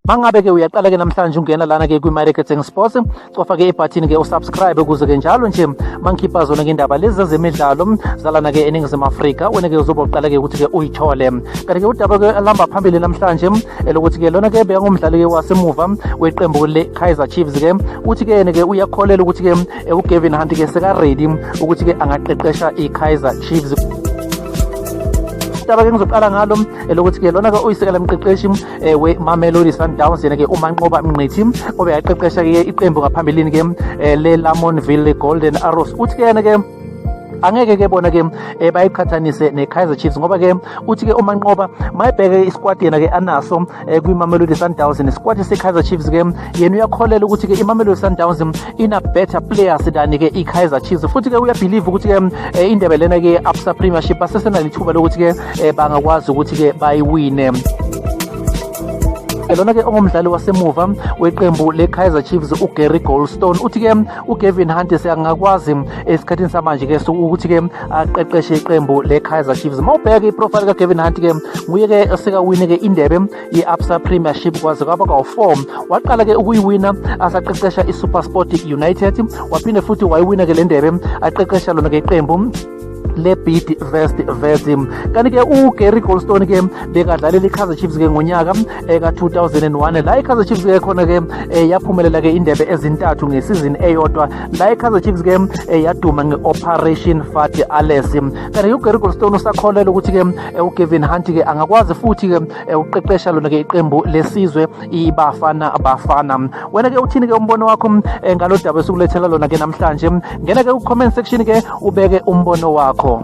mangabe ke uyaqala ke namhlanje ungena lana ke kwi-marketing sports cofa ke ibhathini ke usubscribe ukuze ke njalo nje mangikhipha zona ke indaba lezi zezemidlalo zalana ke eningizimu afrika wena ke uzobe uqala ke ukuthi ke uyithole kanti ke udaba ke alihamba phambili namhlanje elokuthi ke lona ke beyangumdlali ke wasemuva weqembu le-kaizer chiefs ke uthi ke yena ke uyakholelwa ukuthi ke eh, ugavin hunt ke sekaredi ukuthi ke angaqeqesha i-kaizer chiefs udaba ke ngizoqala ngalo eh, lokuthi ke lona ke uyisekela mqeqeshi eh, we-mamelodi sundowns yena ke umanqoba mnqithi obe yaqeqesha ke iqembu ngaphambilini ke eh, le-lamonville golden arrows uthi ke yena ke angeke ke bona ke bayiqhathanise ne-kaizer chiefs ngoba ke uthi ke umanqoba mayibheke isikwadi yena ke anaso eh, kwimamelodi sundowns nesikwati se-kaizer chiefs ke yena uyakholela ukuthi-ke imamelodi sundowns ina-better players than-ke i-kaizer chiefs futhi-ke uyabhilive ukuthi-ke eh, indebe lena-ke absa premiership basesenalithuba lokuthi-ke eh, bangakwazi ukuthi-ke bayiwine lona-ke ongumdlali wasemuva weqembu le-kaizer chiefs ugary goldstone uthi-ke ugavin hunt siyangakwazi esikhathini samanje-ke ukuthi-ke aqeqeshe iqembu le-kaizer chiefs uma ubheka iprofile kagavin hunt ke nguye ke osekawine ke indebe ye-absa premiership kwaze kwaba kawu-four waqala ke ukuyiwina asaqeqesha isupersport united waphinde futhi wayiwina ke le ndebe aqeqesha lona ke iqembu lebid vest vesim kanti-ke ugary golstone-ke bekadlalela i-kaizer chiefs-ke ngonyaka eka-2001 la ikaizer chiefs ke khona ke eh, yaphumelela ke indebe ezintathu ngesizini eyodwa la ikaizer chiefs ke eh, yaduma nge-operation fati ales kanti ugary golstone usakholelwa ukuthi ke eh, ugavin hunt ke angakwazi futhi ke uqeqesha lona ke iqembu lesizwe ibafana bafana wena ke uthini ke umbono wakho ngalo daba esikulethela lona ke namhlanje ngena ke ku-comment section ke ubeke umbono wakho